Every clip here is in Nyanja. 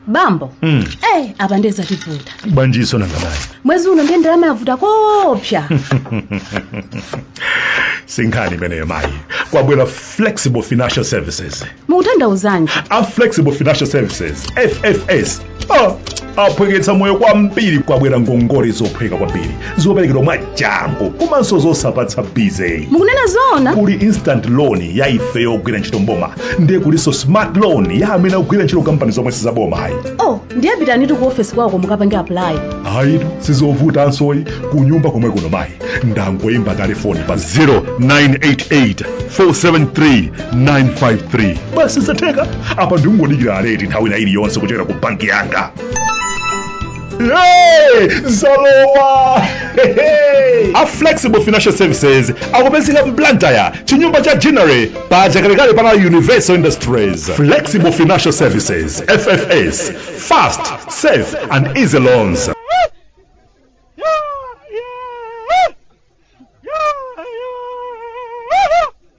bambo Mm. eh apa ndiye zativuta bwanjinso nanga mayi mwezi uno ndiye ndalama yavuta koopsa si nkhani imeneyo mayi kwabwera flexible financial services mukutanthauzanji a flexible financial services ffs Ah, aphweketsa moyo kwambiri kwabwera ngongole zophweka kwambiri zoperekedwa mwachangu komanso zosapatsa busy mukunena zoona kuli instant loan ya ife yogwira ntchito mboma ndiye kulinso smart loan ya amene akugwira ntchito kampani zomwe sizaboma ayi oh ndiye pitanitu ku ofesi kwaoko mukapange apply ayitu sizovutansoyi kunyumba komwe kuno mayi ndangoyimba telefoni pa 0988 473 953 basi zatheka apa ndingodikira alert nthawi ina iliyonse kuchokera ku banki yanga Hey, zalowa a flexible financial services akupezeka m'Blantyre chinyumba cha Ginnery pa chakalekale pana universal industries flexible financial services ffs fast safe and easy loans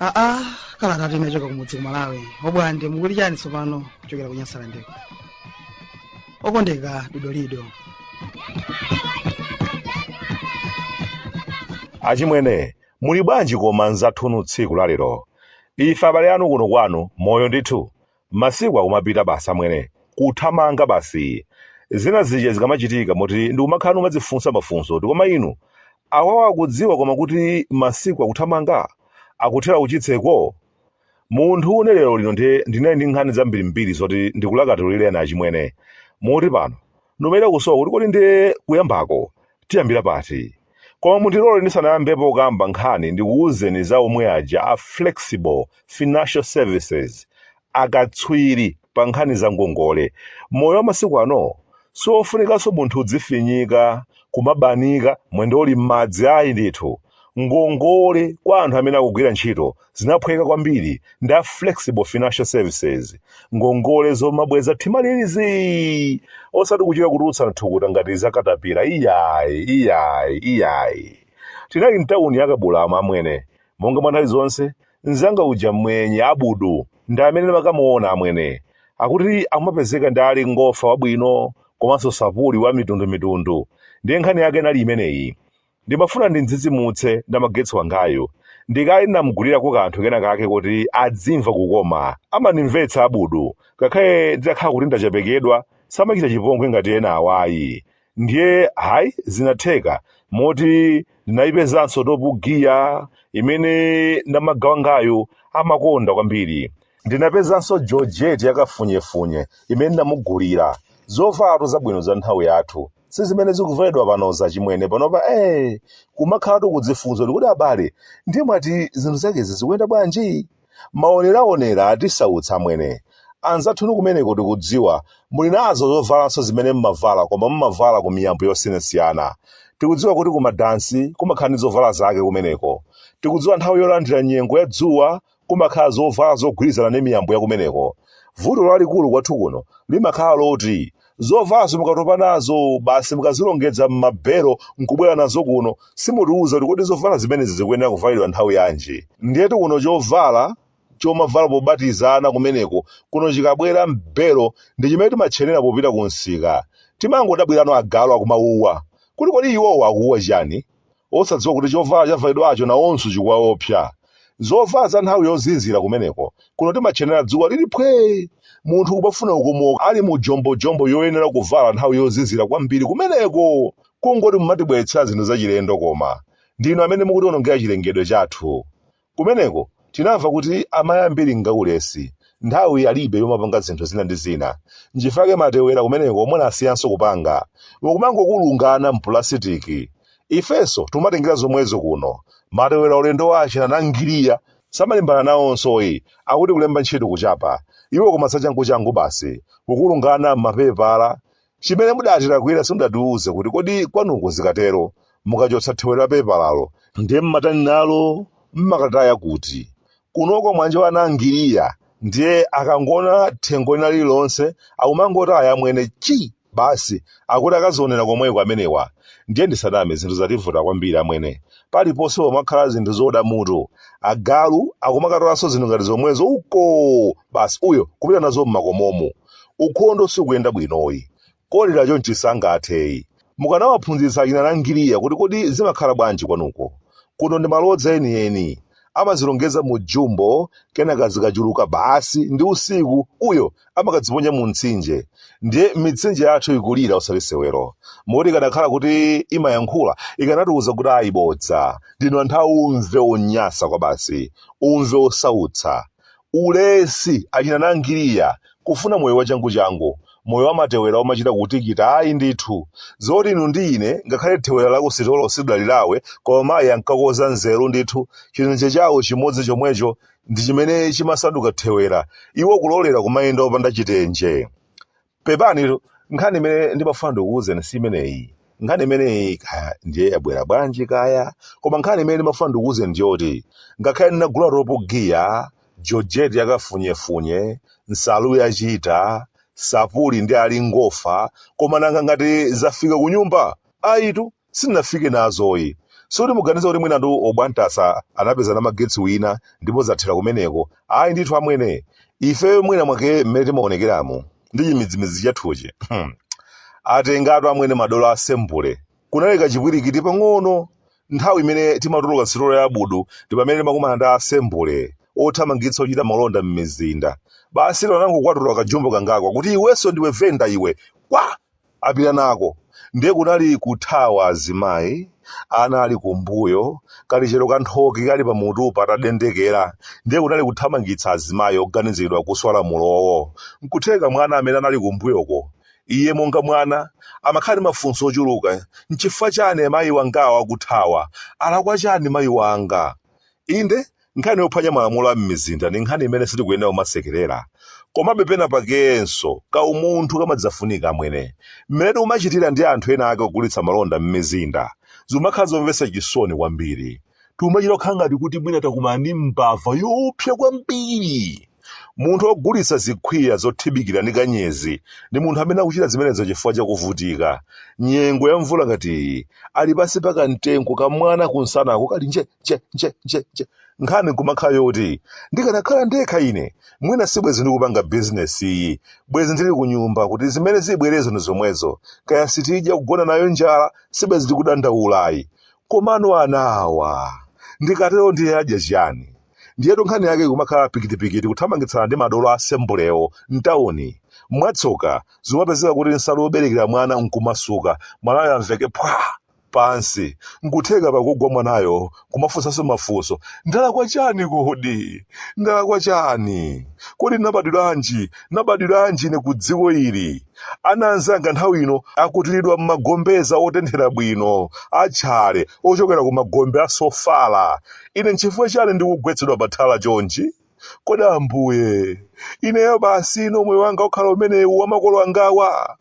aa kalatatu imachoka kumudzi ku malawi obwande mukuli chani tsopano kuchokera ku Nyasalandeko okondeka dodolido achimwene muli bwanji koma nzathunu tsiku lalero ife abale anu kuno kwanu moyo ndithu Masiku akumapita basi amwene, kuthamanga basi. Zina zija zikamachitika moti ndikumakhala numadzifunsa mafunso kuti koma inu, awawa akudziwa koma kuti masiku akuthamanga? Akuthera kuchitseko? Munthune lero lino ndiye ndinali ndi nkhani zambirimbiri zoti ndikulakatulireni achimwene. Moti pano, Numachita kusowa kuti kodi ndiye kuyambako tiyambira pati. Koma mundilole ndisanayambepo kukamba nkhani ndikuuzeni za omwe aja a Flexible Financial Services, akatswiri pa nkhani za ngongole. Moyo wa masiku ano siwofunikanso munthu udzifinyika, kumabanika, mwendo uli m'madzi ayi ndithu. Ngongole kwa anthu amene akugwira ntchito zinaphweka kwambiri ndi a flexible financial services ngongole zomabweza mtima uli zii osati kuchita kutulutsa thukuta ngati zakatapira iyayi iyayi iyayi tinali mtawuni ya Kabulamu amwene monga mwa nthawi zonse mzanga uja mmwenye abudu ndi amene makamuona amwene akuti amapezeka ndi ali ngofa wabwino komanso sapuli wa mitundumitundu ndiye nkhani yake inali imeneyi Ndimafuna ndim'dzidzimutse namagetsi wangayu. Ndi kale ndinam'gulirako kanthu kena kake koti adzimva kukoma. Amandimvetsa Abudu. Ngakhale nditakhala kuti ndachepekedwa, samachita chipongwe ngati ena awa ayi. Ndiye, hai, zinatheka, moti ndinaipezanso Topu Giya imene namaga wangayu amakonda kwambiri. Ndinapezanso Georgette ya kafunyefunye imene ndinamugulira. Zovalatu zabwino za m'nthawi yathu. si zimene zikuvalidwa panozi achimwene panopa eh kumakhalatu kudzifunsa kuti kodi abale ndiye mwati zinthu zakezi zikuyenda bwanji maoneraonera atisautsa amwene anzathunu kumeneko tikudziwa muli nazo zovalanso zimene mmavala koma mmavala ku miyambo yosiyanasiyana tikudziwa kuti kumadansi kumakhala ndi zovala zake kumeneko tikudziwa nthawi yolandira nyengo ya dzuwa kumakhala zovala zogwirizana ndi miyambo ya kumeneko. Vuto lalikulu kwathu kuno limakhala loti zovalazo mukatopa nazo basi mukazilongedza m'mabelo n'kubwera nazo kuno simutiuza kuti kodi zovala zimenezi zikuyenera kuvalidwa nthawi yanji. Ndiyetu kuno chovala chomavala pobatiza ana kumeneko kuno chikabwera m'belo ndi chimene timatchenera popita kumsika. Timangodabwirano agalu akumawuwa kuti kodi iwowo akuwuwa chiyani? osadziwa kuti chovala chavalidwacho nawonso chikuwaopsa. Zovala za nthawi yozizira kumeneko, kuno timatchenera dzuwa lili phwee. Munthu kumafuna kukomoka ali mu jombojombo yoyenera kuvala nthawi yozizira kwambiri kumeneko. Kungoti mumatibweretsera zinthu zachilendo koma. Ndinu amene mukutiwonongera chilengedwe chathu. Kumeneko tinamva kuti amayi ambiri ngaulesi, nthawi alibe yomapanga zinthu zina ndi zina. Nchifukwa chake matewera kumeneko munasiyanso kupanga. Mukumangokulunga ana mpulasitiki. Ifenso tikumatengera zomwezo kuno. Matewera ulendo wa achina Nangiliya samalimbana nawonsoyi, akuti kulemba ntchito kuchapa. Iwo koma zachanguchangu basi, kukulunga ana mmapepala Chimene mudatilakwira simudatiuze kuti kodi kwanuko zikatero mukachotsa thewera la pepalalo ndiye mmatani nalo? Mmakataya kuti? Kunoko mwanjowa a Nangiliya ndiye akangoona thengo lina lililonse akumangotaya amwene chi! basi akuti akazionera komweko amenewa. Ndiye ndisaname zinthu zativuta kwambiri amwene. Paliponse pamakhala zinthu zooda mutu. Agalu akumakatolanso zinthu ngati zomwezo ukoo! basi uyo kupita nazo mmakomomu. ukhondo sukuyenda bwinoyi. Kolera chonchi sangatheyi. Mukanawaphunzitsa achina Nangiliya kuti kodi zimakhala bwanji kwanuko. Kuno ndi malodza enieni. Amazilongeza mu jumbo kenaka zikachuluka basi ndi usiku uyo amakaziponya mu mtsinje. Ndiye mitsinje yathu ikulira osati sewero. Moti ikanakhala kuti imayankhula ikanatiuza kuti ayi bodza. Ndinu anthu aumve onyansa kwabasi. Umve osautsa. Ulesi, achina Nangiliya, kufuna moyo wachanguchangu, moyo wamatewera omachita kutikita ayi ndithu. Zoti inu ndi ine ngakhale thewera la ku sitolo silidalilawe koma mayi ankakoza nzeru ndithu, chitenje chawo chimodzi chomwecho ndi chimene chimasanduka thewera, iwo kulolera kumayenda opanda chitenje. pepanitu nkhani imene ndimafuna ndikuwuzeni si imeneyi nkhani imeneyi kaya ndiye yabwera bwanji kaya koma nkhani imene ndimafuna ndikuwuzeni ndiyoti ngakhale ndinagula ropo giya jojeti yakafunyefunye nsalu yachita sapuli ndi ali ngofa koma nanga ngati zafika kunyumba ayitu sindinafike nazoyi zoti muganiza kuti mwina ndu obwantasa anapeza namagetsi wina ndipo zathera kumeneko ayi ndithu amwene ifeyo mwina mwake mmene timaonekeramu ndi chimidzimidzi chathuchi Hmm. atengatu amwene madolo a sembule kunali kachipwirikiti pang'ono nthawi imene timatuluka sitolo ya abudu ndi pamene timakumana ndi asembule othamangitsa ochita malonda m'mizinda basi lero anangokwatula kajumbo kangaka kuti iwenso ndiwe venda iwe kwa apita nako ndiye kunali kuthawa azimayi ana ali kumbuyo kalichero ka nthoki kali pamutu patadendekera ndiye kunali kuthamangitsa azimayi oganiziridwa kuswa lamulowo nkutheka mwana amene anali kumbuyoko iye monga mwana amakhala ndi mafunso ochuluka nchifukwa chani mayi wangawa akuthawa alakwa chani mayi wanga inde Nkhani yophwanya malamulo a m'mizinda ni nkhani imene sitikuyenela kumasekelela. Komabe pena pakenso, kaumunthu kamadzafunika amwene. Mmene timacitila ndi anthu ena ake ogulitsa malonda m'mizinda, zimakhala zomvetsa cisoni kwambili. Timacita kukhala ngati kuti mwina takumana ndi mbava yoopsa kwambili. Munthu wogulitsa zikhwiya zothibikila ni kanyezi, ni munthu amene akucita zimenezo cifukwa ca kuvutika. Nyengo yamvula ngati iyi, ali pansi pa kamtengo, kamwana kumsanaku kali nje! nje nje nje nje nkhani kumakhala yoti ndikanakhala ndekha ine mwina sibwezi ndikupanga bizinesi iyi bwezi ndili ku nyumba kuti zimene zibwerezo ndi zomwezo kaya sitidya kugona nayo njala sibwezi ndikudandaulayi komano anawa ndikatero ndiye adya chiyani ndiyetu nkhani yake kumakhala pikitipikiti kuthamangitsana ndi madolo asembulewo mtawuni mwatsoka zimapezeka kuti nsalu yoberekera mwana nkumasuka mwanayo amveke phwa pansi nkutheka pakugwa mwanayo kumafunsanso mafunso ndalakwa chani kodi ndalakwa chani kodi nabadwiranji nabadwiranji ine ku dziko ili ana anzanga nthawi ino akukutilidwa m'magombeza otenthera bwino atchale ochokera ku magombe a sofala ine nchifukwa chani ndikugwetsedwa pathala chonchi kodi ambuye ineyo basi inenso moyo wanga ukhala umenewu wamakolo angawa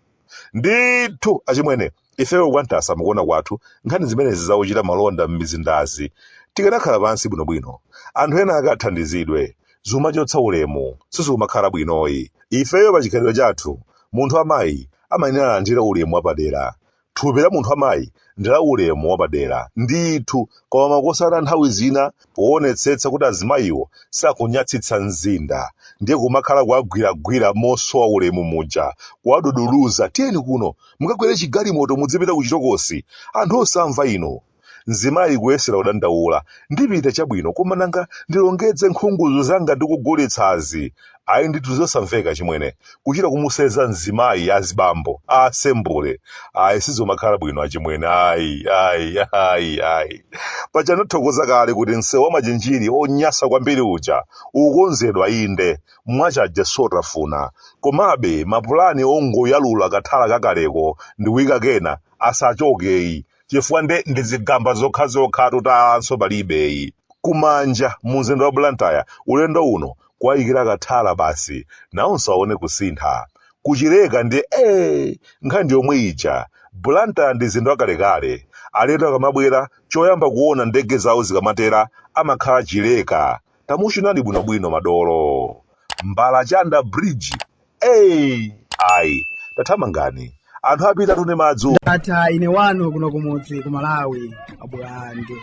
ndithu achimwene ifeyo kwantasa mukuona kwathu nkhani zimenezi zakuchita malonda m'mizindazi tikanakhala pansi bwinobwino anthu ena akathandizidwe zimachotsa ulemu sizimakhala bwinoyi ifeyo pa chikhalidwe chathu munthu wamayi amayenera alandire ulemu wapadera thupi la munthu wamayi ndi la ulemu wapadera ndithu koma makosana nthawi zina poonetsetsa kuti azimayiwo sakunyatsitsa mzinda ndiye kumakhala kuwagwiragwira mosowa ulemu muja kuwaduduluza tiyeni kuno mukakwere chigalimoto mudzipita kuchitokosi anthu osamva inu mzimayi kuyesera kudandaula ndipita chabwino koma nanga ndilongedze nkhungudzu zanga ndikugulitsazi ayi ndithu zosamveka achimwene kuchita kumuseza mzimayi azibambo asembule ayi sizomakhala bwino achimwene ayi ayi ayi ayi paja ndinathokoza kale kuti msewu wa machinjiri onyasa kwambiri uja ukonzedwa inde mwachaje satafuna komabe mapulani ongoyalula kathala kakaleko ndi kuyika kena asachokeyi chifukwa nde ndi zigamba zokhazokhatu talanso palibeyi ku manja mu mzinda wa blantyre ulendo uno kuwayikira kathala basi nawonso awone kusintha. Ku Chileka ndiye ee! Nkhani ndi yomwe ija. Blantyre ndi mzinda wakalekale. Alendo akamabwera, choyamba kuwona ndege zawo zikamatera amakhala Chileka. Tamuchunani bwinobwino madolo. Mbalachanda Bridge Hey! Ayi, tathamangani. Anthu apitatu ndi madzi. Ndatha ine wanu kuno kumudzi ku Malawi abwande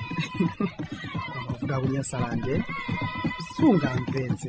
amavuta ku Nyasalande sungamvetse